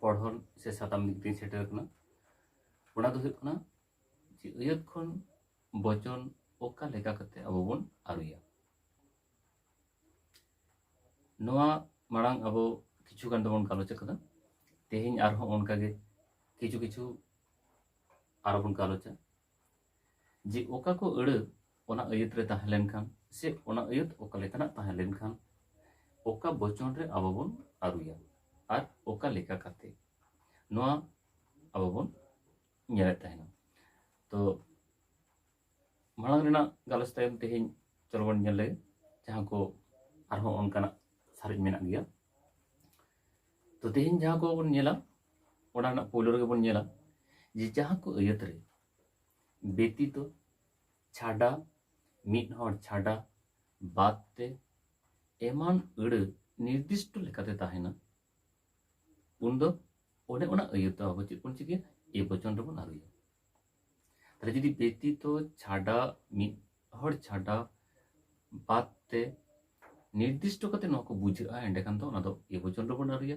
ᱯᱚᱲᱦᱚᱱ ᱥᱮ ᱥᱟᱛᱟᱢ ᱫᱤᱠ ᱛᱮᱧ ᱥᱮᱴᱮᱨ ᱠᱟᱱᱟ ᱚᱱᱟ ᱫᱚ ᱦᱩᱭᱩᱜ ᱠᱟᱱᱟ ᱡᱮ ᱟᱹᱭᱟᱹᱛ ᱠᱷᱚᱱ ᱵᱚᱪᱚᱱ ᱚᱠᱟ ᱞᱮᱠᱟ ᱠᱟᱛᱮ ᱟᱵᱚ ᱵᱚᱱ ᱟᱹᱨᱩᱭᱟ ᱱᱚᱣᱟ ᱢᱟᱲᱟᱝ ᱟᱵᱚ ᱠᱤᱪᱷᱩ ᱜᱟᱱ ᱫᱚᱵᱚᱱ ᱜᱟᱞᱚᱪ ᱟᱠᱟᱫᱟ ᱛᱮᱦᱮᱧ ᱟᱨᱦᱚᱸ ᱚᱱᱠᱟᱜᱮ ᱠᱤᱪᱷᱩ ᱠᱤᱪᱷᱩ ᱟᱨᱚ ᱵᱚᱱ ᱜᱟᱞᱚᱪᱟ ᱡᱮ ᱚᱠᱟ ᱠᱚ ᱟᱹᱲᱟᱹ ᱚᱱᱟ ᱟᱹᱭᱟᱹᱛ ᱨᱮ ᱛᱟᱦᱮᱸ ᱞᱮᱱᱠᱷᱟᱱ ᱥᱮ ᱚᱱᱟ ᱟᱹᱭᱟᱹᱛ ᱚᱠᱟ ᱞᱮᱠᱟᱱᱟᱜ ᱛᱟᱦᱮᱸ ᱞᱮᱱᱠᱷᱟᱱ ᱚᱠᱟ ᱵᱚᱪᱚᱱ ᱨᱮ ᱟᱵᱚ ᱵᱚᱱ ᱟᱹᱨᱩᱭᱟ ᱟᱨ ᱚᱠᱟ ᱞᱮᱠᱟ ᱠᱟᱛᱮ ᱱᱚᱣᱟ ᱟᱵᱚ ᱵᱚᱱ ᱧᱮᱞᱮᱫ ᱛᱟᱦᱮᱱᱟ ᱛᱚ ᱢᱟᱲᱟᱝ ᱨᱮᱱᱟᱜ ᱜᱟᱞᱚᱪ ᱛᱟᱭᱚᱢ ᱛᱮᱦᱮᱧ ᱪᱚᱞᱚ ᱵᱚᱱ ᱧᱮᱞ ᱞᱮᱜᱮ ᱡᱟᱦᱟᱸ ᱠᱚ ᱟᱨᱦᱚᱸ ᱚᱱᱠᱟᱱᱟᱜ ᱥᱟᱨᱮᱡ ᱢᱮᱱᱟᱜ ᱜᱮᱭᱟ ᱛᱚ ᱛᱮᱦᱮᱧ ᱡᱟᱦᱟᱸ ᱠᱚᱵᱚᱱ ᱧᱮᱞᱟ ᱚᱱᱟ ᱨᱮᱱᱟᱜ ᱯᱳᱭᱞᱳ ᱨᱮᱜᱮ ᱵᱚᱱ ᱧᱮᱞᱟ ᱡᱮ ᱡᱟᱦᱟᱸ ᱠᱚ ᱟᱹᱭᱟᱹᱛ ᱨᱮ ᱵᱮᱛᱤᱛᱚ ᱪᱷᱟᱰᱟ ᱢᱤᱫ ᱦᱚᱲ ᱪᱷᱟᱰᱟ ᱵᱟᱫ ᱛᱮ ᱮᱢᱟᱱ ᱟᱹᱲᱟᱹ ᱱᱤᱨᱫᱤᱥᱴᱚ ᱞᱮᱠᱟᱛᱮ ᱛᱟᱦᱮᱱᱟ ᱩᱱ ᱫᱚ ᱚᱱᱮ ᱚᱱᱟ ᱟᱹᱭᱟᱹᱛ ᱫᱚ ᱟᱵᱚ ᱪᱮᱫ ᱵᱚᱱ ᱪᱤᱠᱟᱹᱭᱟ ᱮ ᱵᱚᱪᱚᱱ ᱨᱮᱵᱚᱱ ᱟᱹᱨᱩᱭᱟ ᱛᱟᱦᱞᱮ ᱡᱩᱫᱤ ᱵᱮᱛᱤᱛᱚ ᱪᱷᱟᱰᱟ ᱢᱤᱫ ᱦᱚᱲ ᱪᱷᱟᱰᱟ ᱵᱟᱫ ᱛᱮ ᱱᱤᱨᱫᱤᱥᱴᱚ ᱠᱟᱛᱮ ᱱᱚᱣᱟ ᱠᱚ ᱵᱩᱡᱷᱟᱹᱜᱼᱟ ᱮᱸᱰᱮᱠᱷᱟᱱ ᱫᱚ ᱚᱱᱟ ᱫᱚ ᱮ ᱵᱚᱪᱚᱱ ᱨᱮᱵᱚᱱ ᱟᱹᱨᱩᱭᱟ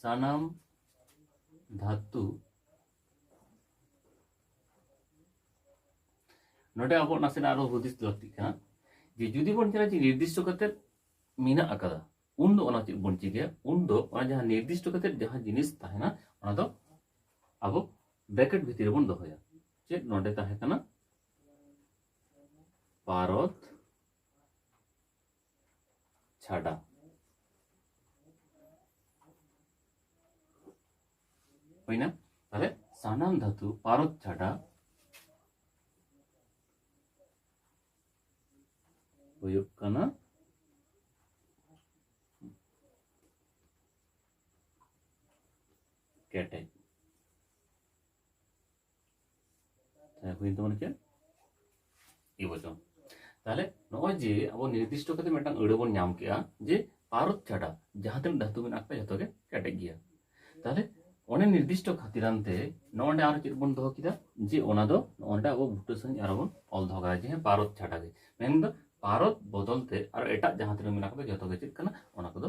ᱥᱟᱱᱟᱢ ᱫᱷᱟᱛᱩ ᱱᱚᱰᱮ ᱟᱵᱚ ᱱᱟᱥᱮᱱᱟᱜ ᱟᱨᱚ ᱦᱩᱫᱤᱥ ᱞᱟᱹᱠᱛᱤᱜ ᱠᱟᱱᱟ ᱡᱮ ᱡᱩᱫᱤ ᱵᱚᱱ ᱧᱮᱞᱟ ᱡᱮ ᱱᱤᱨᱫᱤᱥᱴᱚ ᱠᱟᱛᱮ ᱢᱮᱱᱟᱜ ᱟᱠᱟᱫᱟ ᱩᱱ ᱫᱚ ᱚᱱᱟ ᱪᱮᱫ ᱵᱚᱱ ᱪᱤᱠᱟᱹᱭᱟ ᱩᱱ ᱫᱚ ᱚᱱᱟ ᱡᱟᱦᱟᱸ ᱱᱤᱨᱫᱤᱥᱴᱚ ᱠᱟᱛᱮ ᱡᱟᱦᱟᱸ ᱡᱤᱱᱤᱥ ᱛᱟᱦᱮᱱᱟ ᱚᱱᱟ ᱫᱚ ᱟᱵᱚ ᱵᱨᱮᱠᱮᱴ ᱵᱷᱤᱛᱤᱨ ᱨᱮᱵᱚᱱ ᱫᱚᱦᱚᱭᱟ ᱪᱮᱫ ᱱᱚᱰᱮ ᱛᱟᱦᱮᱸ ᱠᱟᱱᱟ ᱯᱟᱨᱚᱛ ᱪᱷᱟᱰᱟ ᱦᱩᱭᱱᱟ ᱛᱟᱦᱞᱮ ᱥᱟᱱᱟᱢ ᱫᱷᱟᱹᱛᱩ ᱯᱟᱨᱚᱛ ᱪᱷᱟᱰᱟ ᱦᱩᱭᱩᱜ ᱠᱟᱱᱟ ᱠᱮᱴᱮᱡ ᱦᱩᱭᱮᱱ ᱛᱟᱵᱚᱱᱟ ᱪᱮᱫ ᱤ ᱵᱚᱪᱚᱱ ᱛᱟᱦᱞᱮ ᱱᱚᱜᱼᱚᱭ ᱡᱮ ᱟᱵᱚ ᱱᱤᱨᱫᱤᱥᱴᱚ ᱠᱟᱛᱮ ᱢᱤᱫᱴᱟᱝ ᱟᱹᱲᱟᱹ ᱵᱚᱱ ᱧᱟᱢ ᱠᱮᱜᱼᱟ ᱡᱮ ᱯᱟᱨᱚᱛ ᱪᱷᱟᱰᱟ ᱡᱟᱦᱟᱸ ᱛᱤᱱᱟᱹᱜ ᱫᱷᱟᱹᱛᱩ ᱢᱮᱱᱟᱜ ᱠᱚᱣᱟ ᱡᱚᱛᱚ ᱜᱮ ᱠᱮᱴᱮᱡ ᱜᱮᱭᱟ ᱛᱟᱦᱞᱮ ᱚᱱᱮ ᱱᱤᱨᱫᱤᱥᱴᱚ ᱠᱷᱟᱹᱛᱤᱨᱟᱱ ᱛᱮ ᱱᱚᱸᱰᱮ ᱟᱨᱚ ᱪᱮᱫ ᱵᱚᱱ ᱫᱚᱦᱚ ᱠᱮᱫᱟ ᱡᱮ ᱚᱱᱟ ᱫᱚ ᱱᱚᱸᱰᱮ ᱟᱵᱚ ᱵᱩᱴᱟᱹ ᱥᱟᱺᱦᱤᱡ ᱟᱨᱚ ᱵᱚᱱ ᱚᱞ ᱫᱚᱦᱚ ᱠᱟᱫᱟ ᱡᱮ ᱦᱮᱸ ᱯᱟᱨᱚᱛ ᱪᱷᱟᱰᱟ ᱜᱮ ᱢᱮᱱᱫᱚ ᱯᱟᱨᱚᱛ ᱵᱚᱫᱚᱞ ᱛᱮ ᱟᱨᱚ ᱮᱴᱟᱜ ᱡᱟᱦᱟᱸ ᱛᱤᱱᱟᱹᱜ ᱢᱮᱱᱟᱜ ᱠᱚᱫᱚ ᱡᱚᱛᱚ ᱜᱮ ᱪᱮᱫ ᱠᱟᱱᱟ ᱚᱱᱟ ᱠᱚᱫᱚ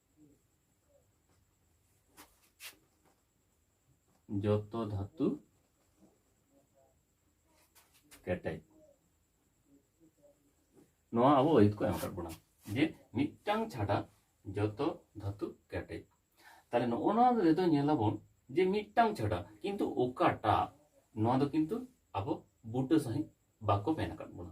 ᱡᱚᱛᱚ ᱫᱷᱟᱹᱛᱩ ᱠᱮᱴᱮᱡ ᱱᱚᱣᱟ ᱟᱵᱚ ᱟᱹᱭᱟᱹᱛ ᱠᱚ ᱮᱢ ᱟᱠᱟᱫ ᱵᱚᱱᱟ ᱡᱮ ᱢᱤᱫᱴᱟᱝ ᱪᱷᱟᱰᱟ ᱡᱚᱛᱚ ᱫᱷᱟᱹᱛᱩ ᱠᱮᱴᱮᱡ ᱛᱟᱦᱞᱮ ᱱᱚᱜᱼᱚ ᱱᱚᱣᱟ ᱨᱮᱫᱚ ᱧᱮᱞᱟᱵᱚᱱ ᱡᱮ ᱢᱤᱫᱴᱟᱝ ᱪᱷᱟᱰᱟ ᱠᱤᱱᱛᱩ ᱚᱠᱟᱴᱟᱜ ᱱᱚᱣᱟ ᱫᱚ ᱠᱤᱱᱛᱩ ᱟᱵᱚ ᱵᱩᱴᱟᱹ ᱥᱟᱺᱦᱤᱡ ᱵᱟᱠᱚ ᱢᱮᱱ ᱟᱠᱟᱫ ᱵᱚᱱᱟ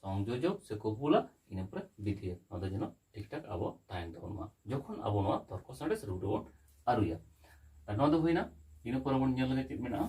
ᱥᱚᱝᱡᱳᱡᱚᱠ ᱥᱮ ᱠᱚᱯᱩᱞᱟ ᱤᱱᱟᱹ ᱯᱚᱨᱮ ᱵᱤᱫᱷᱤᱭᱟ ᱱᱚᱣᱟ ᱫᱚ ᱡᱮᱱᱚ ᱴᱷᱤᱠ ᱴᱷᱟᱠ ᱟᱵᱚ ᱛᱟᱦᱮᱱ ᱛᱟᱵᱚᱱ ᱢᱟ ᱡᱚᱠᱷᱚᱱ ᱟᱵᱚ ᱱᱚᱣᱟ ᱛᱚᱨᱠᱚ ᱥᱟᱬᱮᱥ ᱨᱩᱯ ᱨᱮᱵᱚᱱ ᱟᱹᱨᱩᱭᱟ ᱟᱨ ᱱᱚᱣᱟ ᱫᱚ ᱦᱩᱭᱱᱟ ᱤᱱᱟᱹ ᱯᱚᱨᱮ ᱵᱚᱱ ᱧᱮᱞ ᱞᱮᱜᱮ ᱪᱮᱫ ᱢᱮᱱᱟᱜᱼᱟ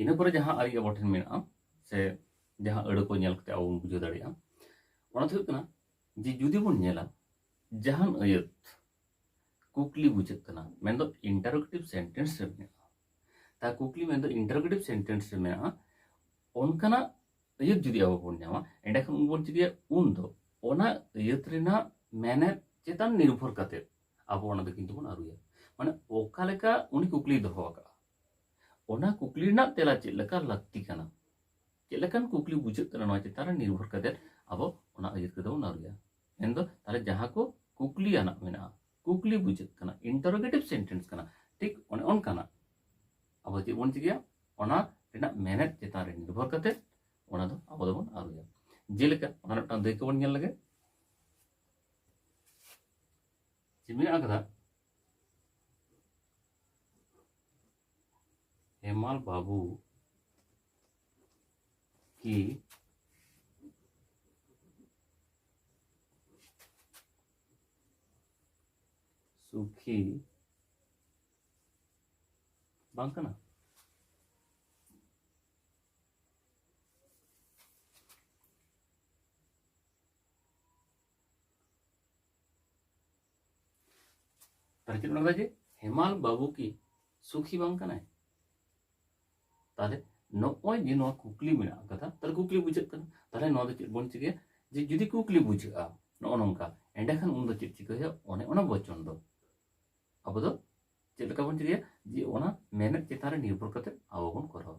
ᱤᱱᱟᱹ ᱯᱚᱨᱮ ᱡᱟᱦᱟᱸ ᱟᱹᱨᱤ ᱟᱵᱚ ᱴᱷᱮᱱ ᱢᱮᱱᱟᱜᱼᱟ ᱥᱮ ᱡᱟᱦᱟᱸ ᱟᱹᱲᱟᱹ ᱠᱚ ᱧᱮᱞ ᱠᱟᱛᱮ ᱟᱵᱚ ᱵᱚᱱ ᱵᱩᱡᱷᱟᱹᱣ ᱫᱟᱲᱮᱭᱟᱜᱼᱟ ᱚᱱᱟ ᱫᱚ ᱦᱩᱭᱩᱜ ᱠᱟᱱᱟ ᱡᱮ ᱡᱩᱫᱤ ᱵᱚᱱ ᱧᱮᱞᱟ ᱡᱟᱦᱟᱱ ᱟᱹᱭᱟᱹᱛ ᱠᱩᱠᱞᱤ ᱵᱩᱡᱷᱟᱹᱜ ᱠᱟᱱᱟ ᱢᱮᱱᱫᱚ ᱤᱱᱴᱟᱨᱳᱜᱮᱴᱤᱵᱷ ᱥᱮᱱᱴᱮᱱᱥ ᱨᱮ ᱢᱮᱱᱟᱜᱼᱟ ᱛᱟ ᱠᱩᱠᱞᱤ ᱢᱮᱱᱫᱚ ᱤᱱᱴᱟᱨᱳᱜᱮᱴᱤᱵᱷ ᱥᱮᱱᱴᱮᱱᱥ ᱨᱮ ᱢᱮᱱᱟᱜᱼᱟ ᱚᱱᱠᱟᱱᱟᱜ ᱟᱹᱭᱟᱹᱛ ᱡᱩᱫᱤ ᱟᱵᱚ ᱵᱚᱱ ᱧᱟᱢᱟ ᱮᱸᱰᱮᱠᱷᱟᱱ ᱩᱱ ᱵᱚᱱ ᱪᱤᱠᱟᱹᱭᱟ ᱩᱱ ᱫᱚ ᱚᱱᱟ ᱟᱹᱭᱟᱹᱛ ᱨᱮᱱᱟᱜ ᱢᱮᱱᱮᱛ ᱪᱮᱛᱟᱱ ᱱᱤᱨᱵᱷᱚᱨ ᱠᱟᱛᱮ ᱟᱵᱚ ᱚᱱᱟ ᱫᱚ ᱠᱤᱱᱛᱩ ᱵᱚᱱ ᱟᱹᱨᱩᱭᱟ ᱢᱟᱱᱮ ᱚᱠᱟ ᱞᱮᱠᱟ ᱩᱱᱤ ᱠᱩᱠᱞᱤ ᱫᱚᱦᱚ ᱟᱠᱟᱫᱼᱟ ᱚᱱᱟ ᱠᱩᱠᱞᱤ ᱨᱮᱱᱟᱜ ᱛᱮᱞᱟ ᱪᱮᱫ ᱞᱮᱠᱟ ᱞᱟᱹᱠᱛᱤ ᱠᱟᱱᱟ ᱪᱮᱫ ᱞᱮᱠᱟᱱ ᱠᱩᱠᱞᱤ ᱵᱩᱡᱷᱟᱹᱜ ᱠᱟᱱᱟ ᱱᱚᱣᱟ ᱪᱮᱛᱟᱱ ᱨᱮ ᱱᱤᱨᱵᱷᱚᱨ ᱠᱟᱛᱮ ᱟᱵᱚ ᱚᱱᱟ ᱟᱹᱭᱟᱹᱛ ᱠᱚᱫᱚ ᱵᱚᱱ ᱟᱹᱨᱩᱭᱟ ᱢᱮᱱᱫᱚ ᱛᱟᱦᱚᱞᱮ ᱡᱟᱦᱟᱸ ᱠᱚ ᱠᱩᱠᱞᱤ ᱟᱱᱟᱜ ᱢᱮᱱᱟᱜᱼᱟ ᱠᱩᱠᱞᱤ ᱵᱩᱡᱷᱟᱹᱜ ᱠᱟᱱᱟ ᱤᱱᱴᱟᱨᱳᱜᱮᱴᱤᱵᱷ ᱥᱮᱱᱴᱮᱱᱥ ᱠᱟᱱᱟ ᱴᱷᱤᱠ ᱚᱱᱮ ᱚᱱᱠᱟᱱᱟᱜ ᱟᱵᱚ ᱪᱮᱫ ᱵᱚᱱ ᱪᱤᱠᱟᱹᱭᱟ ᱚᱱᱟ ᱨᱮᱱᱟᱜ ᱢᱮᱱᱮᱛ ᱪᱮᱛᱟᱱ ᱨᱮ ᱱᱤᱨᱵᱷᱚᱨ ᱠᱟᱛᱮ ᱚᱱᱟ ᱫᱚ ᱟᱵᱚ ᱫᱚᱵᱚᱱ ᱟᱹᱨᱩᱭᱟ ᱡᱮᱞᱮᱠᱟ ᱚᱱᱟ ᱢᱤᱫᱴᱟᱝ ᱫᱟᱹᱭᱠᱟᱹ ᱵᱚᱱ ᱧᱮᱞ ᱞᱮᱜᱮ ᱡᱮ ᱢᱮᱱᱟᱜ ᱟᱠᱟᱫᱟ ᱦᱮᱢᱟᱞ ᱵᱟᱹᱵᱩ ᱠᱤ ᱥᱩᱠᱷᱤ ᱵᱟᱝ ᱠᱟᱱᱟ ᱛᱟᱦᱚᱞᱮ ᱚᱱᱟ ᱡᱮ ᱦᱮᱢᱟᱞ ᱵᱟᱹᱵᱩ ᱠᱤ ᱥᱩᱠᱷᱤ ᱵᱟᱝ ᱠᱟᱱᱟᱭ ᱛᱟᱦᱚᱞᱮ ᱱᱚᱜᱼᱚᱭ ᱡᱮ ᱱᱚᱣᱟ ᱠᱩᱠᱞᱤ ᱢᱮᱱᱟᱜ ᱟᱠᱟᱫᱟ ᱛᱟᱦᱚᱞᱮ ᱠᱩᱠᱞᱤ ᱵᱩᱡᱷᱟᱹᱜ ᱠᱟᱱᱟ ᱛᱟᱦᱚᱞᱮ ᱱᱚᱣᱟ ᱫᱚ ᱪᱮᱫ ᱵᱚᱱ ᱪᱤᱠᱟᱹᱭᱟ ᱡᱮ ᱡᱩᱫᱤ ᱠᱩᱠᱞᱤ ᱵᱩᱡᱷᱟᱹᱜᱼᱟ ᱱᱚᱜᱼᱚ ᱱᱚᱝᱠᱟ ᱮᱸᱰᱮᱠᱷᱟᱱ ᱩᱱᱫᱚ ᱪᱮᱫ ᱪᱤᱠᱟᱹ ᱦᱩᱭᱩᱜᱼᱟ ᱚᱱᱮ ᱚᱱᱟ ᱵᱚᱪᱚᱱ ᱫᱚ ᱟᱵᱚ ᱫᱚ ᱪᱮᱫ ᱞᱮᱠᱟ ᱵᱚᱱ ᱪᱤᱠᱟᱹᱭᱟ ᱡᱮ ᱚᱱᱟ ᱢᱮᱱᱮᱫ ᱪᱮᱛᱟᱱ ᱨᱮ ᱱᱤᱨᱵᱷᱚᱨ ᱠᱟᱛᱮ ᱟᱵᱚ ᱵᱚᱱ ᱠᱚᱨᱟᱣᱟ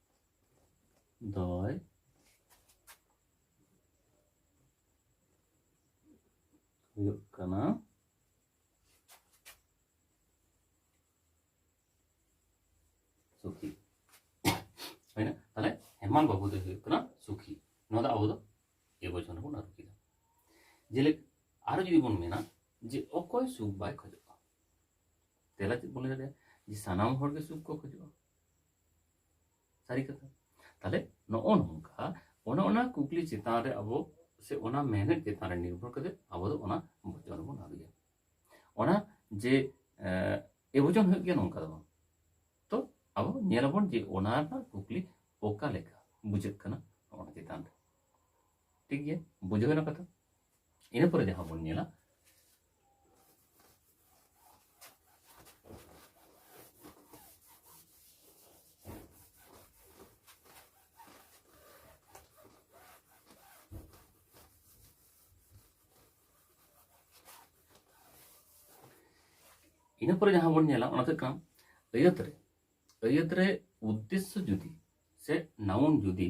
Давай. ᱦᱩᱭᱩᱜ ᱠᱟᱱᱟ ᱥᱩᱠᱷᱤ ᱦᱩᱭᱱᱟ ᱛᱟᱦᱞᱮ ᱦᱮᱢᱟᱞ ᱵᱟᱹᱵᱩ ᱫᱚᱭ ᱦᱩᱭᱩᱜ ᱠᱟᱱᱟ ᱥᱩᱠᱷᱤ ᱱᱚᱣᱟ ᱫᱚ ᱟᱵᱚ ᱫᱚ ᱮᱵᱚᱪᱚᱱ ᱨᱮᱵᱚᱱ ᱟᱹᱨᱩ ᱠᱮᱫᱟ ᱡᱮᱞᱮᱠᱟ ᱟᱨᱚ ᱡᱩᱫᱤ ᱵᱚᱱ ᱢᱮᱱᱟ ᱡᱮ ᱚᱠᱚᱭ ᱥᱩᱠ ᱵᱟᱭ ᱠᱷᱚᱡᱚᱜᱼᱟ ᱛᱮᱞᱟ ᱪᱮᱫ ᱵᱚᱱ ᱞᱟᱹᱭ ᱫᱟᱲᱮᱭᱟᱜᱼᱟ ᱡᱮ ᱥᱟᱱᱟᱢ ᱦᱚᱲᱜᱮ ᱥᱩᱠ ᱠᱚ ᱠᱷᱚᱡᱚᱜᱼᱟ ᱥᱟᱹᱨᱤ ᱠᱟᱛᱷᱟ ᱛᱟᱦᱞᱮ ᱱᱚᱜᱼᱚ ᱱᱚᱝᱠᱟ ᱚᱱᱟ ᱚᱱᱟ ᱠᱩᱠᱞᱤ ᱪᱮᱛᱟᱱ ᱨᱮ ᱟᱵᱚ ᱥᱮ ᱚᱱᱟ ᱢᱮᱱᱮᱫ ᱪᱮᱛᱟᱱ ᱨᱮ ᱱᱤᱨᱵᱷᱚᱨ ᱠᱟᱛᱮ ᱟᱵᱚ ᱫᱚ ᱚᱱᱟ ᱵᱚᱪᱚᱱ ᱵᱚᱱ ᱟᱹᱜᱩᱭᱟ ᱚᱱᱟ ᱡᱮ ᱮ ᱵᱚᱪᱚᱱ ᱦᱩᱭᱩᱜ ᱜᱮᱭᱟ ᱱᱚᱝᱠᱟ ᱫᱚ ᱵᱟᱝ ᱛᱚ ᱟᱵᱚ ᱧᱮᱞᱟᱵᱚᱱ ᱡᱮ ᱚᱱᱟ ᱨᱮᱱᱟᱜ ᱠᱩᱠᱞᱤ ᱚᱠᱟ ᱞᱮᱠᱟ ᱵᱩᱡᱷᱟᱹᱜ ᱠᱟᱱᱟ ᱚᱱᱟ ᱪᱮᱛᱟᱱ ᱨᱮ ᱴᱷᱤᱠ ᱜᱮᱭᱟ ᱵᱩᱡᱷᱟᱹᱣ ᱮᱱᱟ ᱠᱟᱛᱷᱟ ᱤᱱᱟᱹ ᱯᱚᱨᱮ ᱡᱟᱦᱟᱸ ᱵᱚᱱ ᱧᱮᱞᱟ ᱤᱱᱟᱹ ᱯᱚᱨᱮ ᱡᱟᱦᱟᱸ ᱵᱚᱱ ᱧᱮᱞᱟ ᱚᱱᱟ ᱫᱚ ᱠᱟᱱᱟ ᱟᱹᱭᱟᱹᱛ ᱨᱮ ᱟᱹᱭᱟᱹᱛ ᱨᱮ ᱩᱫᱽᱫᱮᱥᱥᱚ ᱡᱩᱫᱤ ᱥᱮ ᱱᱟᱣᱩᱱ ᱡᱩᱫᱤ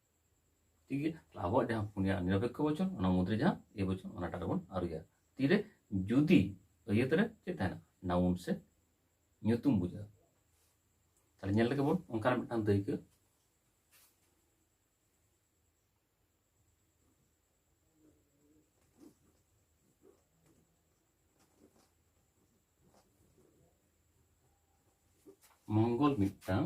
ᱛᱤᱜᱮ ᱟᱵᱚᱣᱟᱜ ᱡᱟᱦᱟᱸ ᱯᱩᱱᱭᱟ ᱱᱤᱨᱚᱯᱮᱠᱠᱷᱚ ᱵᱚᱪᱚᱱ ᱚᱱᱟ ᱢᱩᱫᱽᱨᱮ ᱡᱟᱦᱟᱸ ᱮ ᱵᱚᱪᱚᱱ ᱚᱱᱟᱴᱟᱜ ᱨᱮᱵᱚᱱ ᱟᱹᱨᱩᱭᱟ ᱛᱤᱨᱮ ᱡᱩᱫᱤ ᱟᱹᱭᱟᱹᱛ ᱨᱮ ᱪᱮᱫ ᱛᱟᱦᱮᱱᱟ ᱱᱟᱣᱩᱱ ᱥᱮ ᱧᱩᱛᱩᱢ ᱵᱩᱡᱷᱟᱹᱜᱼᱟ ᱛᱟᱦᱞᱮ ᱧᱮᱞ ᱞᱮᱜᱮ ᱵᱚᱱ ᱚᱱᱠᱟᱱᱟᱜ ᱢᱤᱫᱴᱟᱝ ᱫᱟᱹᱭᱠᱟᱹ ᱢᱚᱝᱜᱚᱞ ᱢᱤᱫᱴᱟᱝ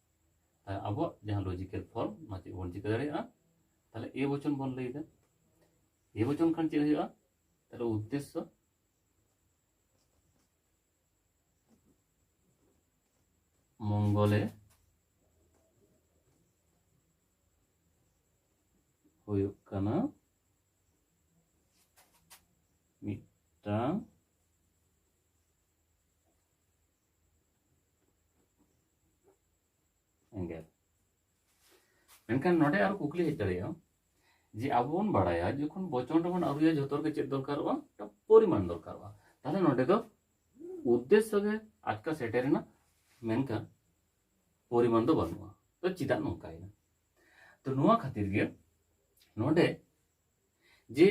ᱛᱟᱦᱚᱞᱮ ᱟᱵᱚᱣᱟᱜ ᱡᱟᱦᱟᱸ ᱞᱚᱡᱤᱠᱮᱞ ᱯᱷᱚᱨᱢ ᱚᱱᱟ ᱪᱮᱫ ᱵᱚᱱ ᱪᱤᱠᱟᱹ ᱫᱟᱲᱮᱭᱟᱜᱼᱟ ᱛᱟᱦᱚᱞᱮ ᱮ ᱵᱚᱪᱚᱱ ᱵᱚᱱ ᱞᱟᱹᱭᱫᱟ ᱮ ᱵᱚᱪᱚᱱ ᱠᱷᱟᱱ ᱪᱮᱫ ᱦᱩᱭᱩᱜᱼᱟ ᱛᱟᱦᱚᱞᱮ ᱩᱫᱽᱫᱮᱥᱥᱚ ᱢᱚᱝᱜᱚᱞᱮ ᱦᱩᱭᱩᱜ ᱠᱟᱱᱟ ᱢᱤᱫᱴᱟᱝ ᱮᱸᱜᱮᱞ ᱢᱮᱱᱠᱷᱟᱱ ᱱᱚᱰᱮ ᱟᱨᱚ ᱠᱩᱠᱞᱤ ᱦᱮᱡ ᱫᱟᱲᱮᱭᱟᱜᱼᱟ ᱡᱮ ᱟᱵᱚ ᱵᱚᱱ ᱵᱟᱲᱟᱭᱟ ᱡᱚᱠᱷᱚᱱ ᱵᱚᱪᱚᱱ ᱨᱮᱵᱚᱱ ᱟᱹᱨᱩᱭᱟ ᱡᱷᱚᱛᱚ ᱨᱮᱜᱮ ᱪᱮᱫ ᱫᱚᱨᱠᱟᱨᱚᱜᱼᱟ ᱢᱤᱫᱴᱟᱝ ᱯᱚᱨᱤᱢᱟᱱ ᱫᱚᱨᱠᱟᱨᱚᱜᱼᱟ ᱛᱟᱦᱞᱮ ᱱᱚᱰᱮ ᱫᱚ ᱩᱫᱽᱫᱮᱥᱥᱚ ᱜᱮ ᱟᱴᱠᱟ ᱥᱮᱴᱮᱨᱮᱱᱟ ᱢᱮᱱᱠᱷᱟᱱ ᱯᱚᱨᱤᱢᱟᱱ ᱫᱚ ᱵᱟᱹᱱᱩᱜᱼᱟ ᱛᱚ ᱪᱮᱫᱟᱜ ᱱᱚᱝᱠᱟᱭᱮᱱᱟ ᱛᱚ ᱱᱚᱣᱟ ᱠᱷᱟᱹᱛᱤᱨ ᱜᱮ ᱱᱚᱰᱮ ᱡᱮ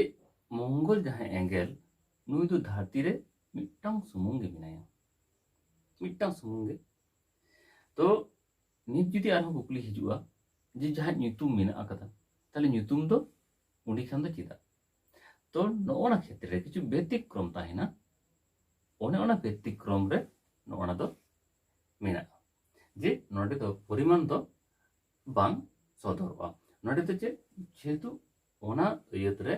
ᱢᱚᱝᱜᱚᱞ ᱡᱟᱦᱟᱸᱭ ᱮᱸᱜᱮᱞ ᱱᱩᱭ ᱫᱚ ᱫᱷᱟᱹᱨᱛᱤ ᱨᱮ ᱢᱤᱫᱴᱟᱝ ᱥᱩᱢᱩᱝ ᱜᱮ ᱢᱮᱱᱟᱭᱟ ᱢᱤᱫᱴᱟᱝ ᱥᱩᱢᱩᱝ ᱜᱮ ᱛᱚ ᱱᱤᱛ ᱡᱩᱫᱤ ᱟᱨᱦᱚᱸ ᱠᱩᱠᱞᱤ ᱦᱤᱡᱩᱜᱼᱟ ᱡᱮ ᱡᱟᱦᱟᱸ ᱧᱩᱛᱩᱢ ᱢᱮᱱᱟᱜ ᱟᱠᱟᱫᱟ ᱛᱟᱦᱞᱮ ᱧᱩᱛᱩᱢ ᱫᱚ ᱩᱱᱤ ᱠᱷᱟᱱ ᱫᱚ ᱪᱮᱫᱟᱜ ᱛᱚ ᱱᱚᱜᱼᱚ ᱱᱟ ᱠᱷᱮᱛᱨᱮ ᱨᱮ ᱠᱤᱪᱷᱩ ᱵᱮᱛᱤᱠᱨᱚᱢ ᱛᱟᱦᱮᱱᱟ ᱚᱱᱮ ᱚᱱᱟ ᱵᱮᱛᱤᱠᱨᱚᱢ ᱨᱮ ᱱᱚᱜᱼᱚ ᱱᱟ ᱫᱚ ᱢᱮᱱᱟᱜᱼᱟ ᱡᱮ ᱱᱚᱰᱮ ᱫᱚ ᱯᱚᱨᱤᱢᱟᱱ ᱫᱚ ᱵᱟᱝ ᱥᱚᱫᱚᱨᱚᱜᱼᱟ ᱱᱚᱰᱮ ᱫᱚ ᱪᱮᱫ ᱡᱮᱦᱮᱛᱩ ᱚᱱᱟ ᱟᱹᱭᱟᱹᱛ ᱨᱮ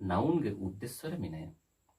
ᱱᱟᱣᱩᱱ ᱜᱮ ᱩᱫᱽᱫᱮᱥᱥᱚ ᱨᱮ ᱢᱮᱱᱟᱭᱟ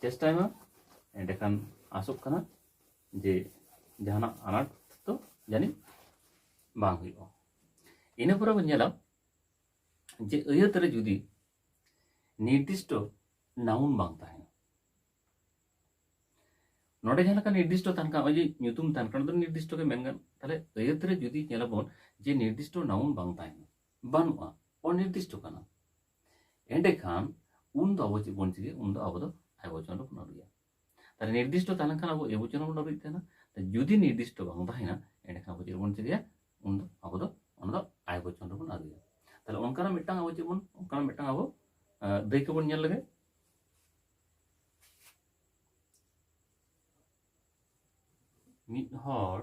ᱪᱮᱥᱴᱟᱭ ᱢᱟ ᱮᱸᱰᱮᱠᱷᱟᱱ ᱟᱥᱚᱜ ᱠᱟᱱᱟ ᱡᱮ ᱡᱟᱦᱟᱱᱟᱜ ᱟᱱᱟᱴ ᱫᱚ ᱡᱟᱹᱱᱤᱡ ᱵᱟᱝ ᱦᱩᱭᱩᱜᱼᱟ ᱤᱱᱟᱹ ᱯᱚᱨᱮ ᱵᱚᱱ ᱧᱮᱞᱟ ᱡᱮ ᱟᱹᱭᱟᱹᱛ ᱨᱮ ᱡᱩᱫᱤ ᱱᱤᱨᱫᱤᱥᱴᱚ ᱱᱟᱣᱩᱱ ᱵᱟᱝ ᱛᱟᱦᱮᱱᱟ ᱱᱚᱰᱮ ᱡᱟᱦᱟᱸ ᱞᱮᱠᱟ ᱱᱤᱨᱫᱤᱥᱴᱚ ᱛᱟᱦᱮᱱ ᱠᱟᱱᱟ ᱱᱚᱜᱼᱚᱭ ᱡᱮ ᱧᱩᱛᱩᱢ ᱛᱟᱦᱮᱱ ᱠᱟᱱᱟ ᱫᱚ ᱱᱤᱨᱫᱤᱥᱴᱚ ᱜᱮ ᱢᱮᱱ ᱜᱟᱱ ᱛᱟᱦᱞᱮ ᱟᱹᱭᱟᱹᱛ ᱨᱮ ᱡᱩᱫᱤ ᱧᱮᱞᱟᱵᱚᱱ ᱡᱮ ᱱᱤᱨᱫᱤᱥᱴᱚ ᱱᱟᱣᱩᱱ ᱵᱟᱝ ᱛᱟᱦᱮᱱᱟ ᱵᱟᱹᱱᱩᱜᱼᱟ ᱚᱱᱤᱨᱫᱤᱥᱴᱚ ᱠᱟᱱᱟ ᱮᱸᱰᱮᱠᱷᱟᱱ ᱩᱱ ᱫᱚ ᱟᱵᱚ ᱪᱮᱫ ᱵᱚᱱ ᱪᱤᱠᱟᱹᱭᱟ ᱩᱱ ᱫᱚ ᱟᱵᱚ ᱫᱚ ᱮᱵᱚᱪᱚᱱ ᱨᱮᱵᱚᱱ ᱟᱹᱨᱩᱭᱟ ᱛᱟᱦᱞᱮ ᱱᱤᱨᱫᱤᱥᱴᱚ ᱛᱟᱦᱮᱸ ᱞᱮᱱᱠᱷᱟᱱ ᱟᱵᱚ ᱮᱵᱚᱪᱚᱱ ᱨᱮᱵᱚᱱ ᱟᱹᱨᱩᱭᱮᱫ ᱛᱟᱦᱮᱱᱟ ᱡᱩᱫᱤ ᱱᱤᱨᱫᱤᱥᱴᱚ ᱵᱟᱝ ᱛᱟᱦᱮᱱᱟ ᱮᱸᱰᱮᱠᱷᱟᱱ ᱟᱵᱚ ᱪᱮᱫ ᱵᱚᱱ ᱪᱤᱠᱟᱹᱭᱟ ᱩᱱ ᱫᱚ ᱟᱵᱚ ᱫᱚ ᱚᱱᱟ ᱫᱚ ᱟᱭ ᱵᱚᱪᱚᱱ ᱨᱮᱵᱚᱱ ᱟᱹᱨᱩᱭᱟ ᱛᱟᱦᱞᱮ ᱚᱱᱠᱟᱱᱟᱜ ᱢᱤᱫᱴᱟᱝ ᱟᱵᱚ ᱪᱮᱫ ᱵᱚᱱ ᱚᱱᱠᱟᱱᱟᱜ ᱢᱤᱫᱴᱟᱝ ᱟᱵᱚ ᱫᱟᱹᱭᱠᱟᱹ ᱵᱚᱱ ᱧᱮᱞ ᱞᱮᱜᱮ ᱢᱤᱫ ᱦᱚᱲ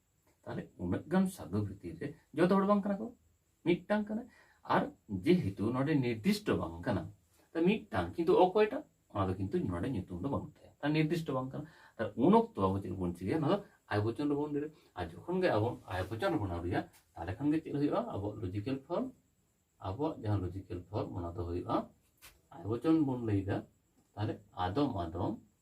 ᱛᱟᱦᱚᱞᱮ ᱩᱱᱟᱹᱜ ᱜᱟᱱ ᱥᱟᱫᱷᱩ ᱵᱷᱤᱛᱤᱨ ᱨᱮ ᱡᱚᱛᱚ ᱦᱚᱲ ᱵᱟᱝ ᱠᱟᱱᱟ ᱠᱚ ᱢᱤᱫᱴᱟᱝ ᱠᱟᱱᱟ ᱟᱨ ᱡᱮᱦᱮᱛᱩ ᱱᱚᱰᱮ ᱱᱤᱨᱫᱤᱥᱴᱚ ᱵᱟᱝ ᱠᱟᱱᱟ ᱛᱟ ᱢᱤᱫᱴᱟᱝ ᱠᱤᱱᱛᱩ ᱚᱠᱚᱭᱴᱟᱜ ᱚᱱᱟ ᱫᱚ ᱠᱤᱱᱛᱩ ᱱᱚᱰᱮ ᱧᱩᱛᱩᱢ ᱫᱚ ᱵᱟᱹᱱᱩᱜ ᱛᱟᱭᱟ ᱛᱟ ᱱᱤᱨᱫᱤᱥᱴᱚ ᱵᱟᱝ ᱠᱟᱱᱟ ᱛᱟ ᱩᱱ ᱚᱠᱛᱚ ᱟᱵᱚ ᱪᱮᱫ ᱵᱚᱱ ᱪᱤᱠᱟᱹᱭᱟ ᱚᱱᱟ ᱫᱚ ᱟᱭ ᱵᱚᱪᱚᱱ ᱨᱮᱵᱚᱱ ᱫᱟᱹᱲᱟ ᱟᱨ ᱡᱚᱠᱷᱚᱱ ᱜᱮ ᱟᱵᱚ ᱟᱭ ᱵᱚᱪᱚᱱ ᱨᱮᱵᱚᱱ ᱟᱹᱨᱩᱭᱟ ᱛᱟᱦᱚᱞᱮ ᱠᱷᱟᱱ ᱜᱮ ᱪᱮᱫ ᱦᱩᱭᱩᱜᱼᱟ ᱟᱵᱚᱣᱟᱜ ᱞᱚᱡᱤᱠᱮᱞ ᱯᱷᱚᱨᱢ ᱟᱵᱚᱣᱟᱜ ᱡᱟᱦᱟᱸ ᱞᱚᱡᱤᱠᱮᱞ ᱯᱷᱚᱨᱢ ᱚᱱᱟ ᱫᱚ ᱦᱩᱭᱩᱜᱼᱟ ᱟᱭ ᱵᱚᱪᱚᱱ ᱵᱚᱱ ᱞᱟᱹᱭᱫᱟ ᱛᱟᱦᱚᱞᱮ ᱟᱫᱚᱢ ᱟᱫᱚᱢ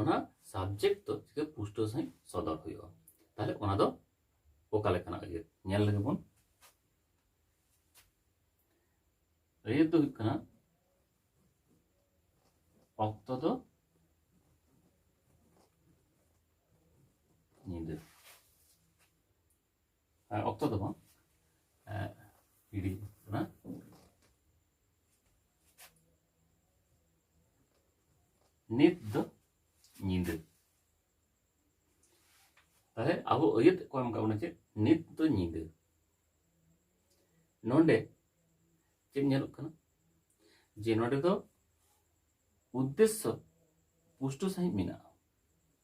ᱚᱱᱟ ᱥᱟᱵᱡᱮᱠᱴ ᱫᱚ ᱪᱤᱠᱟᱹ ᱯᱩᱥᱴᱟᱹᱣ ᱥᱟᱺᱦᱤᱡ ᱥᱚᱫᱚᱨ ᱦᱩᱭᱩᱜᱼᱟ ᱛᱟᱦᱞᱮ ᱚᱱᱟ ᱫᱚ ᱚᱠᱟ ᱞᱮᱠᱟᱱᱟᱜ ᱟᱹᱭᱟᱹᱛ ᱧᱮᱞ ᱞᱮᱜᱮ ᱵᱚᱱ ᱟᱹᱭᱟᱹᱛ ᱫᱚ ᱦᱩᱭᱩᱜ ᱠᱟᱱᱟ ᱚᱠᱛᱚ ᱫᱚ ᱧᱤᱫᱟᱹ ᱚᱠᱛᱚ ᱫᱚ ᱵᱟᱝ ᱜᱤᱰᱤ ᱠᱟᱱᱟ ᱱᱤᱛ ᱫᱚ ᱧᱤᱫᱟᱹ ᱛᱟᱦᱞᱮ ᱟᱵᱚ ᱟᱹᱭᱟᱹᱛ ᱠᱚ ᱮᱢ ᱠᱟᱜ ᱵᱚᱱᱟ ᱪᱮᱫ ᱱᱤᱛ ᱫᱚ ᱧᱤᱫᱟᱹ ᱱᱚᱰᱮ ᱪᱮᱫ ᱧᱮᱞᱚᱜ ᱠᱟᱱᱟ ᱡᱮ ᱱᱚᱰᱮ ᱫᱚ ᱩᱫᱽᱫᱮᱥᱥᱚ ᱯᱩᱥᱴᱟᱹ ᱥᱟᱺᱦᱤᱡ ᱢᱮᱱᱟᱜᱼᱟ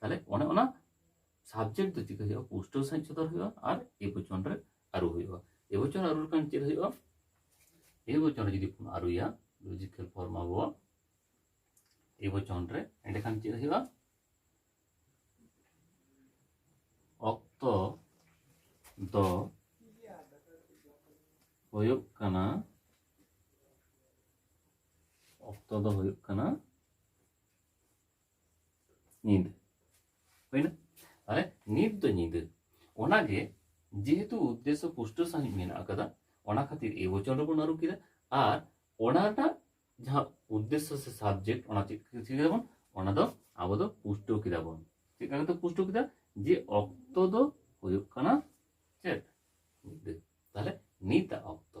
ᱛᱟᱦᱞᱮ ᱚᱱᱮ ᱚᱱᱟ ᱥᱟᱵᱡᱮᱠᱴ ᱫᱚ ᱪᱤᱠᱟᱹ ᱦᱩᱭᱩᱜᱼᱟ ᱯᱩᱥᱴᱟᱹᱣ ᱥᱟᱺᱦᱤᱡ ᱥᱚᱫᱚᱨ ᱦᱩᱭᱩᱜᱼᱟ ᱟᱨ ᱮ ᱵᱚᱪᱚᱱ ᱨᱮ ᱟᱹᱨᱩ ᱦᱩᱭᱩᱜᱼᱟ ᱮ ᱵᱚᱪᱚᱱ ᱟᱹᱨᱩ ᱞᱮᱠᱷᱟᱱ ᱪᱮᱫ ᱦᱩᱭᱩᱜᱼᱟ ᱮ ᱵᱚᱪᱚᱱ ᱨᱮ ᱡᱩᱫᱤ ᱵᱚᱱ ᱟᱹᱨᱩᱭᱟ ᱞᱚᱡᱤᱠᱮᱞ ᱯᱷᱚᱨᱢ ᱟᱵᱚ ᱮ ᱵᱚᱪᱚᱱ ᱨᱮ ᱮᱸᱰᱮᱠᱷᱟᱱ ᱪᱮᱫ ᱦᱩᱭᱩᱜᱼᱟ ᱚᱠᱛᱚ ᱫᱚ ᱦᱩᱭᱩᱜ ᱠᱟᱱᱟ ᱚᱠᱛᱚ ᱫᱚ ᱦᱩᱭᱩᱜ ᱠᱟᱱᱟ ᱧᱤᱫᱟᱹ ᱦᱩᱭᱱᱟ ᱛᱟᱦᱚᱞᱮ ᱱᱤᱛ ᱫᱚ ᱧᱤᱫᱟᱹ ᱚᱱᱟᱜᱮ ᱡᱮᱦᱮᱛᱩ ᱩᱫᱽᱫᱮᱥᱥᱚ ᱯᱩᱥᱴᱟᱹ ᱥᱟᱺᱦᱤᱡ ᱢᱮᱱᱟᱜ ᱟᱠᱟᱫᱟ ᱚᱱᱟ ᱠᱷᱟᱹᱛᱤᱨ ᱮ ᱵᱚᱪᱚᱱ ᱨᱮᱵᱚᱱ ᱟᱹᱨᱩ ᱠᱮᱫᱟ ᱟᱨ ᱚᱱᱟ ᱨᱮᱱᱟᱜ ᱡᱟᱦᱟᱸ ᱩᱫᱽᱫᱮᱥᱥᱚ ᱥᱮ ᱥᱟᱵᱡᱮᱠᱴ ᱚᱱᱟ ᱪᱮᱫ ᱠᱮᱫᱟᱵᱚᱱ ᱚᱱᱟ ᱫᱚ ᱟᱵᱚ ᱫᱚ ᱯᱩᱥᱴᱟᱹᱣ ᱠᱮᱫᱟᱵᱚᱱ ᱪᱮᱫ ᱞᱮᱠᱟ ᱠᱟᱛᱮ ᱯᱩᱥᱴᱟᱹᱣ ᱠᱮᱫᱟ ᱡᱮ ᱚᱠᱛᱚ ᱫᱚ ᱦᱩᱭᱩᱜ ᱠᱟᱱᱟ ᱪᱮᱫ ᱧᱤᱫᱟᱹ ᱛᱟᱦᱚᱞᱮ ᱱᱤᱛᱟᱜ ᱚᱠᱛᱚ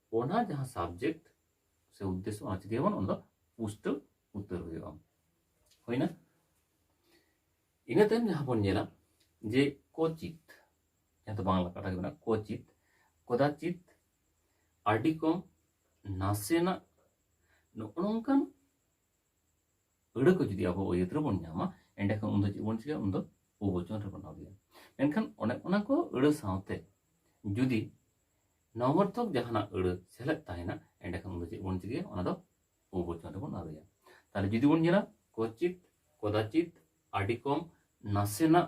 ᱚᱱᱟ ᱡᱟᱦᱟᱸ ᱥᱟᱵᱡᱮᱠᱴ ᱥᱮ ᱩᱫᱽᱫᱮᱥᱥᱚ ᱚᱱᱟ ᱪᱤᱠᱟᱹ ᱵᱚᱱ ᱚᱱᱟ ᱫᱚ ᱯᱩᱥᱴᱟᱹᱣ ᱩᱛᱟᱹᱨ ᱦᱩᱭᱩᱜᱼᱟ ᱦᱩᱭᱱᱟ ᱤᱱᱟᱹ ᱛᱟᱭᱚᱢ ᱡᱟᱦᱟᱸ ᱵᱚᱱ ᱧᱮᱞᱟ ᱡᱮ ᱠᱚᱪᱤᱛ ᱡᱟᱦᱟᱸ ᱫᱚ ᱵᱟᱝᱞᱟ ᱠᱟᱛᱷᱟ ᱜᱮ ᱢᱮᱱᱟᱜᱼᱟ ᱠᱚᱪᱤᱛ ᱠᱚᱫᱟᱪᱤᱛ ᱟᱹᱰᱤ ᱠᱚᱢ ᱱᱟᱥᱮᱱᱟᱜ ᱱᱚᱜᱼᱚ ᱱᱚᱝᱠᱟᱱ ᱟᱹᱲᱟᱹ ᱠᱚ ᱡᱩᱫᱤ ᱟᱵᱚ ᱟᱹᱭᱟᱹᱛ ᱨᱮᱵᱚᱱ ᱧᱟᱢᱟ ᱮᱸᱰᱮᱠᱷᱟᱱ ᱩᱱᱫᱚ ᱪᱮᱫ ᱵᱚᱱ ᱪᱤᱠᱟᱹᱭᱟ ᱩᱱᱫᱚ ᱩᱵᱚᱪᱚᱱ ᱨᱮᱵᱚᱱ ᱟᱹᱜᱩᱭᱟ ᱢᱮᱱᱠᱷᱟᱱ ᱚᱱᱮ ᱚᱱᱟ ᱠᱚ ᱟᱹᱲᱟᱹ ᱥᱟᱶᱛᱮ ᱡᱩᱫᱤ ᱱᱚᱵᱚᱨᱛᱚᱠ ᱡᱟᱦᱟᱱᱟᱜ ᱟᱹᱲᱟᱹ ᱥᱮᱞᱮᱫ ᱛᱟᱦᱮᱱᱟ ᱮᱸᱰᱮᱠᱷᱟᱱ ᱩᱱᱫᱚ ᱪᱮᱫ ᱵᱚᱱ ᱪᱤᱠᱟᱹᱭᱟ ᱚᱱᱟ ᱫᱚ ᱩᱵᱚᱪᱚᱱ ᱨᱮᱵᱚᱱ ᱟᱹᱜᱩᱭᱟ ᱛᱟᱦᱞᱮ ᱡᱩᱫᱤ ᱵᱚᱱ ᱧᱮᱞᱟ ᱠᱚᱪᱤᱛ ᱠᱚᱫᱟᱪᱤᱛ ᱟᱹᱰᱤ ᱠᱚᱢ ᱱᱟᱥᱮᱱᱟᱜ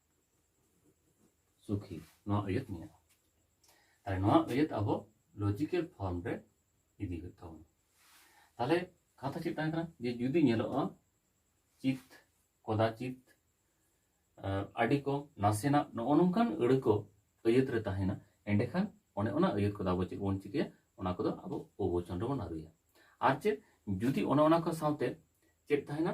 ᱥᱩᱠᱷᱤ ᱱᱚᱣᱟ ᱟᱹᱭᱟᱹᱛ ᱢᱮᱱᱟᱜᱼᱟ ᱛᱟᱦᱞᱮ ᱱᱚᱣᱟ ᱟᱹᱭᱟᱹᱛ ᱟᱵᱚ ᱞᱚᱡᱤᱠᱮᱞ ᱯᱷᱚᱨᱢ ᱨᱮ ᱤᱫᱤ ᱦᱩᱭᱩᱜ ᱛᱟᱵᱚᱱᱟ ᱛᱟᱦᱞᱮ ᱠᱟᱛᱷᱟ ᱪᱮᱫ ᱛᱟᱦᱮᱸ ᱠᱟᱱᱟ ᱡᱮ ᱡᱩᱫᱤ ᱧᱮᱞᱚᱜᱼᱟ ᱪᱤᱛ ᱠᱚᱫᱟᱪᱤᱛ ᱟᱹᱰᱤ ᱠᱚᱢ ᱱᱟᱥᱮᱱᱟᱜ ᱱᱚᱜᱼᱚ ᱱᱚᱝᱠᱟᱱ ᱟᱹᱲᱟᱹ ᱠᱚ ᱟᱹᱭᱟᱹᱛ ᱨᱮ ᱛᱟᱦᱮᱱᱟ ᱮᱸᱰᱮᱠᱷᱟᱱ ᱚᱱᱮ ᱚᱱᱟ ᱟᱹᱭᱟᱹᱛ ᱠᱚᱫᱚ ᱟᱵᱚ ᱪᱮᱫ ᱵᱚᱱ ᱪᱤᱠᱟᱹᱭᱟ ᱚᱱᱟ ᱠᱚᱫᱚ ᱟᱵᱚ ᱚᱵᱚᱪᱚᱱ ᱨᱮᱵᱚᱱ ᱟᱹᱨᱩᱭᱟ ᱟᱨ ᱪᱮᱫ ᱡᱩᱫᱤ ᱚᱱᱮ ᱚᱱᱟ ᱠᱚ ᱥᱟᱶᱛᱮ ᱪᱮᱫ ᱛᱟᱦᱮᱱᱟ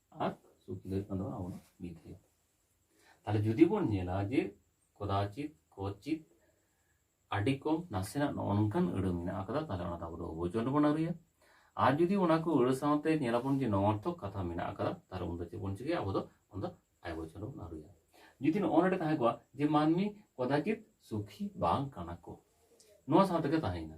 ᱟᱨ ᱥᱩᱠᱷᱤ ᱫᱚ ᱦᱩᱭᱩᱜ ᱠᱟᱱ ᱛᱟᱵᱚᱱᱟ ᱟᱵᱚᱱᱟᱜ ᱵᱤᱫᱷᱮᱭ ᱛᱟᱦᱞᱮ ᱡᱩᱫᱤ ᱵᱚᱱ ᱧᱮᱞᱟ ᱡᱮ ᱠᱚᱫᱟᱪᱤᱛ ᱠᱚᱪᱤᱛ ᱟᱹᱰᱤ ᱠᱚᱢ ᱱᱟᱥᱮᱱᱟᱜ ᱱᱚᱜᱼᱚ ᱱᱚᱝᱠᱟᱱ ᱟᱹᱲᱟᱹ ᱢᱮᱱᱟᱜ ᱟᱠᱟᱫᱟ ᱛᱟᱦᱞᱮ ᱚᱱᱟ ᱫᱚ ᱟᱵᱚ ᱫᱚ ᱚᱵᱚᱪᱚᱱ ᱨᱮᱵᱚᱱ ᱟᱹᱨᱩᱭᱟ ᱟᱨ ᱡᱩᱫᱤ ᱚᱱᱟ ᱠᱚ ᱟᱹᱲᱟᱹ ᱥᱟᱶᱛᱮ ᱧᱮᱞᱟᱵᱚᱱ ᱡᱮ ᱱᱚᱨᱛᱷᱚᱠ ᱠᱟᱛᱷᱟ ᱢᱮᱱᱟᱜ ᱟᱠᱟᱫᱟ ᱛᱟᱦᱞᱮ ᱩᱱᱫᱚ ᱪᱮᱫ ᱵᱚᱱ ᱪᱤᱠᱟᱹᱭᱟ ᱟᱵᱚ ᱫᱚ ᱚᱱᱟ ᱫᱚ ᱟᱭ ᱵᱚᱪᱚᱱ ᱨᱮᱵᱚᱱ ᱟᱹᱨᱩᱭᱟ ᱡᱩᱫᱤ ᱱᱚᱜᱼᱚ ᱱᱚᱰᱮ ᱛᱟᱦᱮᱸ ᱠᱚᱜᱼᱟ ᱡᱮ ᱢᱟᱹᱱᱢᱤ ᱠᱚᱫᱟᱪᱤᱛ ᱥᱩᱠᱷᱤ ᱵᱟᱝ ᱠᱟᱱᱟ ᱠᱚ ᱱᱚᱣᱟ ᱥᱟᱶ ᱛᱮᱜᱮ ᱛᱟᱦᱮᱸᱭᱮᱱᱟ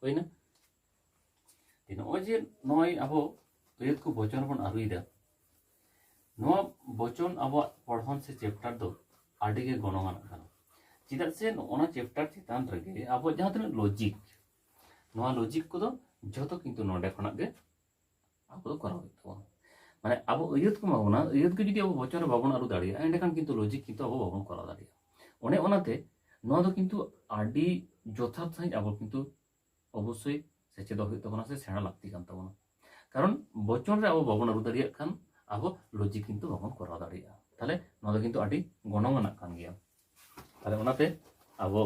ᱦᱩᱭᱱᱟ ᱱᱚᱜᱼᱚᱭ ᱡᱮ ᱱᱚᱜᱼᱚᱭ ᱟᱵᱚ ᱟᱹᱭᱟᱹᱛ ᱠᱚ ᱵᱚᱪᱚᱱ ᱵᱚᱱ ᱟᱹᱨᱩᱭᱮᱫᱟ ᱱᱚᱣᱟ ᱵᱚᱪᱚᱱ ᱟᱵᱚᱣᱟᱜ ᱯᱚᱲᱦᱚᱱ ᱥᱮ ᱪᱮᱯᱴᱟᱨ ᱫᱚ ᱟᱹᱰᱤ ᱜᱮ ᱜᱚᱱᱚᱝ ᱟᱱᱟᱜ ᱠᱟᱱᱟ ᱪᱮᱫᱟᱜ ᱥᱮ ᱱᱚᱜᱼᱚᱱᱟ ᱪᱮᱯᱴᱟᱨ ᱪᱮᱛᱟᱱ ᱨᱮᱜᱮ ᱟᱵᱚ ᱡᱟᱦᱟᱸ ᱛᱤᱱᱟᱹᱜ ᱞᱚᱡᱤᱠ ᱱᱚᱣᱟ ᱞᱚᱡᱤᱠ ᱠᱚᱫᱚ ᱡᱷᱚᱛᱚ ᱠᱤᱱᱛᱩ ᱱᱚᱰᱮ ᱠᱷᱚᱱᱟᱜ ᱜᱮ ᱟᱵᱚ ᱫᱚ ᱠᱚᱨᱟᱣ ᱦᱩᱭᱩᱜ ᱛᱟᱵᱚᱱᱟ ᱢᱟᱱᱮ ᱟᱵᱚ ᱟᱹᱭᱟᱹᱛ ᱠᱚ ᱮᱢᱟ ᱵᱚᱱᱟ ᱟᱹᱭᱟᱹᱛ ᱜᱮ ᱡᱩᱫᱤ ᱟᱵᱚ ᱵᱚᱪᱚᱱ ᱨᱮ ᱵᱟᱵᱚᱱ ᱟᱹᱨᱩ ᱫᱟᱲᱮᱭᱟᱜᱼᱟ ᱮᱸᱰᱮᱠᱷᱟᱱ ᱠᱤᱱᱛᱩ ᱞᱚᱡᱤᱠ ᱠᱤᱱᱛᱩ ᱟᱵᱚ ᱵᱟᱵᱚᱱ ᱠᱚᱨᱟᱣ ᱫᱟᱲᱮᱭᱟᱜᱼᱟ ᱚᱱᱮ ᱚᱱᱟᱛᱮ ᱱᱚᱣᱟ ᱫᱚ ᱠᱤᱱᱛᱩ ᱟᱹᱰᱤ ᱡᱚᱛᱷᱟᱛ ᱥᱟᱺᱦᱤᱡ ᱟᱵᱚ ᱠᱤᱱᱛᱩ ᱚᱵᱚᱥᱥᱳᱭ ᱥᱮᱪᱮᱫᱚᱜ ᱦᱩᱭᱩᱜ ᱛᱟᱵᱚᱱᱟ ᱥᱮ ᱥᱮᱬᱟ ᱞᱟᱹᱠᱛᱤ ᱠᱟᱱ ᱛᱟᱵᱚᱱᱟ ᱠᱟᱨᱚᱱ ᱵᱚᱪᱚᱱ ᱨᱮ ᱟᱵᱚ ᱵᱟᱵᱚᱱ ᱟᱹᱨᱩ ᱫᱟᱲᱮᱭᱟᱜ ᱠᱷᱟᱱ ᱟᱵᱚ ᱞᱚᱡᱤᱠ ᱠᱤᱱᱛᱩ ᱵᱟᱵᱚᱱ ᱠᱚᱨᱟᱣ ᱫᱟᱲᱮᱭᱟᱜᱼᱟ ᱛᱟᱦᱞᱮ ᱱᱚᱣᱟ ᱫᱚ ᱠᱤᱱᱛᱩ ᱟᱹᱰᱤ ᱜᱚᱱᱚᱝ ᱟᱱᱟᱜ ᱠᱟᱱ ᱜᱮᱭᱟ ᱛᱟᱦᱞᱮ ᱚᱱᱟᱛᱮ ᱟᱵᱚ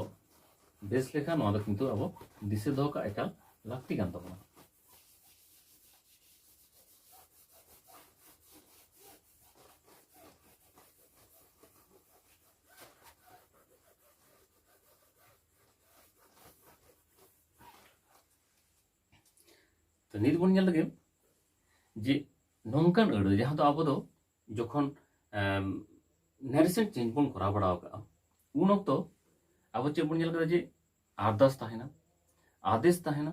ᱵᱮᱥ ᱞᱮᱠᱟ ᱱᱚᱣᱟ ᱫᱚ ᱠᱤᱱᱛᱩ ᱟᱵᱚ ᱫᱤᱥᱟᱹ ᱫᱚᱦᱚ ᱠᱟᱜ ᱮᱠᱟᱞ ᱞᱟᱹᱠᱛᱤ ᱠᱟᱱ ᱛᱟᱵᱚᱱᱟ ᱛᱚ ᱱᱤᱛ ᱵᱚᱱ ᱧᱮᱞ ᱞᱮᱜᱮ ᱡᱮ ᱱᱚᱝᱠᱟᱱ ᱟᱹᱲᱟᱹ ᱡᱟᱦᱟᱸ ᱫᱚ ᱟᱵᱚ ᱫᱚ ᱡᱚᱠᱷᱚᱱ ᱱᱮᱨᱮᱥᱚᱱ ᱪᱮᱧᱡᱽ ᱵᱚᱱ ᱠᱚᱨᱟᱣ ᱵᱟᱲᱟ ᱟᱠᱟᱜᱼᱟ ᱩᱱ ᱚᱠᱛᱚ ᱟᱵᱚ ᱪᱮᱫ ᱵᱚᱱ ᱧᱮᱞ ᱠᱟᱫᱟ ᱡᱮ ᱟᱨᱫᱟᱥ ᱛᱟᱦᱮᱱᱟ ᱟᱫᱮᱥ ᱛᱟᱦᱮᱱᱟ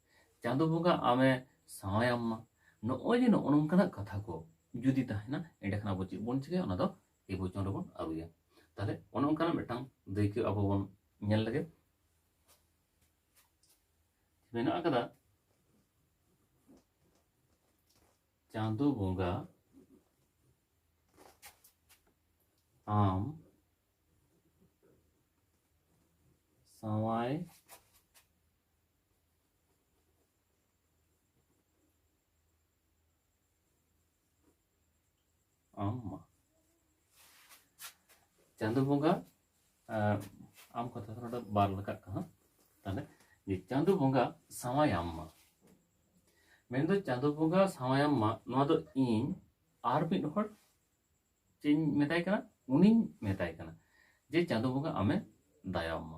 ᱪᱟᱸᱫᱚ ᱵᱚᱸᱜᱟ ᱟᱢᱮ ᱥᱟᱶᱟᱭᱟᱢ ᱢᱟ ᱱᱚᱜᱼᱚᱭ ᱡᱮ ᱱᱚᱜᱼᱚ ᱱᱚᱝᱠᱟᱱᱟᱜ ᱠᱟᱛᱷᱟ ᱠᱚ ᱡᱩᱫᱤ ᱛᱟᱦᱮᱱᱟ ᱮᱸᱰᱮᱠᱷᱟᱱ ᱟᱵᱚ ᱪᱮᱫ ᱵᱚᱱ ᱪᱤᱠᱟᱹᱭᱟ ᱚᱱᱟ ᱫᱚ ᱮ ᱵᱚᱪᱚᱱ ᱨᱮᱵᱚᱱ ᱟᱹᱨᱩᱭᱟ ᱛᱟᱦᱚᱞᱮ ᱚᱱᱮ ᱚᱱᱠᱟᱱᱟᱜ ᱢᱤᱫᱴᱟᱝ ᱫᱟᱹᱭᱠᱟᱹ ᱟᱵᱚ ᱵᱚᱱ ᱧᱮᱞ ᱞᱮᱜᱮ ᱢᱮᱱᱟᱜ ᱟᱠᱟᱫᱟ ᱪᱟᱸᱫᱚ ᱵᱚᱸᱜᱟ ᱟᱢ ᱥᱟᱶᱟᱭ ᱟᱢ ᱪᱟᱸᱫᱚ ᱵᱚᱸᱜᱟ ᱟᱢ ᱠᱟᱛᱷᱟ ᱱᱚᱰᱮ ᱵᱟᱨ ᱞᱮᱠᱟᱜ ᱠᱟᱱᱟ ᱛᱟᱦᱞᱮ ᱡᱮ ᱪᱟᱸᱫᱚ ᱵᱚᱸᱜᱟ ᱥᱟᱶᱟᱭᱟᱢ ᱢᱟ ᱢᱮᱱᱫᱚ ᱪᱟᱸᱫᱚ ᱵᱚᱸᱜᱟ ᱥᱟᱶᱟᱭᱟᱢ ᱢᱟ ᱱᱚᱣᱟ ᱫᱚ ᱤᱧ ᱟᱨ ᱢᱤᱫ ᱦᱚᱲ ᱪᱮᱫ ᱤᱧ ᱢᱮᱛᱟᱭ ᱠᱟᱱᱟ ᱩᱱᱤᱧ ᱢᱮᱛᱟᱭ ᱠᱟᱱᱟ ᱡᱮ ᱪᱟᱸᱫᱚ ᱵᱚᱸᱜᱟ ᱟᱢᱮ ᱫᱟᱭᱟᱢ ᱢᱟ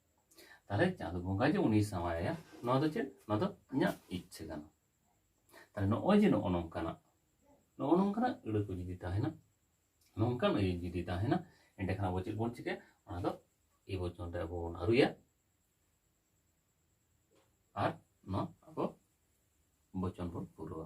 ᱛᱟᱦᱚᱞᱮ ᱪᱟᱸᱫᱚ ᱵᱚᱸᱜᱟ ᱡᱮ ᱩᱱᱤ ᱥᱟᱶᱟᱭᱟ ᱱᱚᱣᱟ ᱫᱚ ᱪᱮᱫ ᱱᱚᱣᱟ ᱫᱚ ᱤᱧᱟᱹᱜ ᱤᱪᱪᱷᱟᱹ ᱠᱟᱱᱟ ᱛᱟᱦᱚᱞᱮ ᱱᱚᱜᱼᱚᱭ ᱡᱮ ᱱᱚᱜᱼᱚ ᱱᱚᱝᱠᱟᱱᱟᱜ ᱱᱚᱜᱼᱚ ᱱᱚᱝᱠᱟᱱᱟᱜ ᱟᱹᱲᱟᱹ ᱠᱚ ᱡᱩᱫᱤ ᱛᱟᱦᱮᱱᱟ ᱱᱚᱝᱠᱟᱱ ᱟᱹᱭᱟᱹ ᱡᱩᱫᱤ ᱛᱟᱦᱮᱱᱟ ᱮᱸᱰᱮᱠᱷᱟᱱ ᱟᱵᱚ ᱪᱮᱫ ᱵᱚᱱ ᱪᱤᱠᱟᱹᱭᱟ ᱚᱱᱟ ᱫᱚ ᱮ ᱵᱚᱪᱚᱱ ᱨᱮ ᱟᱵᱚ ᱵᱚᱱ ᱟᱹᱨᱩᱭᱟ ᱟᱨ ᱱᱚᱣᱟ ᱟᱵᱚ ᱵᱚᱪᱚᱱ ᱵᱚᱱ ᱯᱩᱨᱟᱹᱣᱟ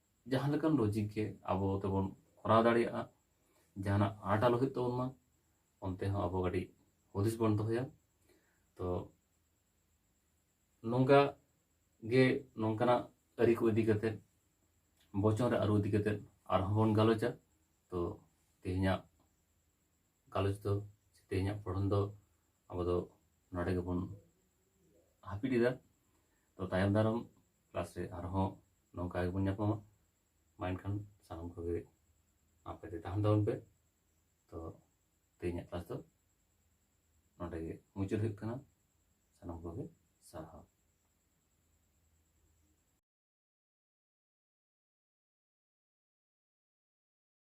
ᱡᱟᱦᱟᱸ ᱞᱮᱠᱟᱱ ᱞᱚᱡᱤᱠ ᱜᱮ ᱟᱵᱚ ᱛᱮᱵᱚᱱ ᱠᱚᱨᱟᱣ ᱫᱟᱲᱮᱭᱟᱜᱼᱟ ᱡᱟᱦᱟᱱᱟᱜ ᱟᱸᱴ ᱟᱞᱚ ᱦᱩᱭᱩᱜ ᱛᱟᱵᱚᱱ ᱢᱟ ᱚᱱᱛᱮ ᱦᱚᱸ ᱟᱵᱚ ᱠᱟᱹᱴᱤᱡ ᱦᱩᱫᱤᱥ ᱵᱚᱱ ᱫᱚᱦᱚᱭᱟ ᱛᱚ ᱱᱚᱝᱠᱟ ᱜᱮ ᱱᱚᱝᱠᱟᱱᱟᱜ ᱟᱹᱨᱤ ᱠᱚ ᱤᱫᱤ ᱠᱟᱛᱮᱫ ᱵᱚᱪᱚᱱ ᱨᱮ ᱟᱹᱨᱩ ᱤᱫᱤ ᱠᱟᱛᱮᱫ ᱟᱨᱦᱚᱸ ᱵᱚᱱ ᱜᱟᱞᱚᱪᱟ ᱛᱚ ᱛᱮᱦᱮᱧᱟᱜ ᱜᱟᱞᱚᱪ ᱫᱚ ᱛᱮᱦᱮᱧᱟᱜ ᱯᱚᱲᱦᱚᱱ ᱫᱚ ᱟᱵᱚ ᱫᱚ ᱱᱚᱰᱮ ᱜᱮᱵᱚᱱ ᱦᱟᱹᱯᱤᱫ ᱮᱫᱟ ᱛᱚ ᱛᱟᱭᱚᱢ ᱫᱟᱨᱟᱢ ᱠᱞᱟᱥ ᱨᱮ ᱟᱨᱦᱚᱸ ᱱᱚᱝᱠᱟ ᱜᱮᱵᱚᱱ ᱧᱟᱯᱟᱢᱟ ᱢᱟ ᱮᱱᱠᱷᱟᱱ ᱥᱟᱱᱟᱢ ᱠᱚᱜᱮ ᱟᱯᱮ ᱛᱮ ᱛᱟᱦᱮᱱ ᱛᱟᱵᱚᱱ ᱯᱮ ᱛᱚ ᱛᱮᱦᱮᱧᱟᱜ ᱠᱞᱟᱥ ᱫᱚ ᱱᱚᱰᱮ ᱜᱮ ᱢᱩᱪᱟᱹᱫ ᱦᱩᱭᱩᱜ ᱠᱟᱱᱟ ᱥᱟᱱᱟᱢ ᱠᱚᱜᱮ ᱥᱟᱨᱦᱟᱣ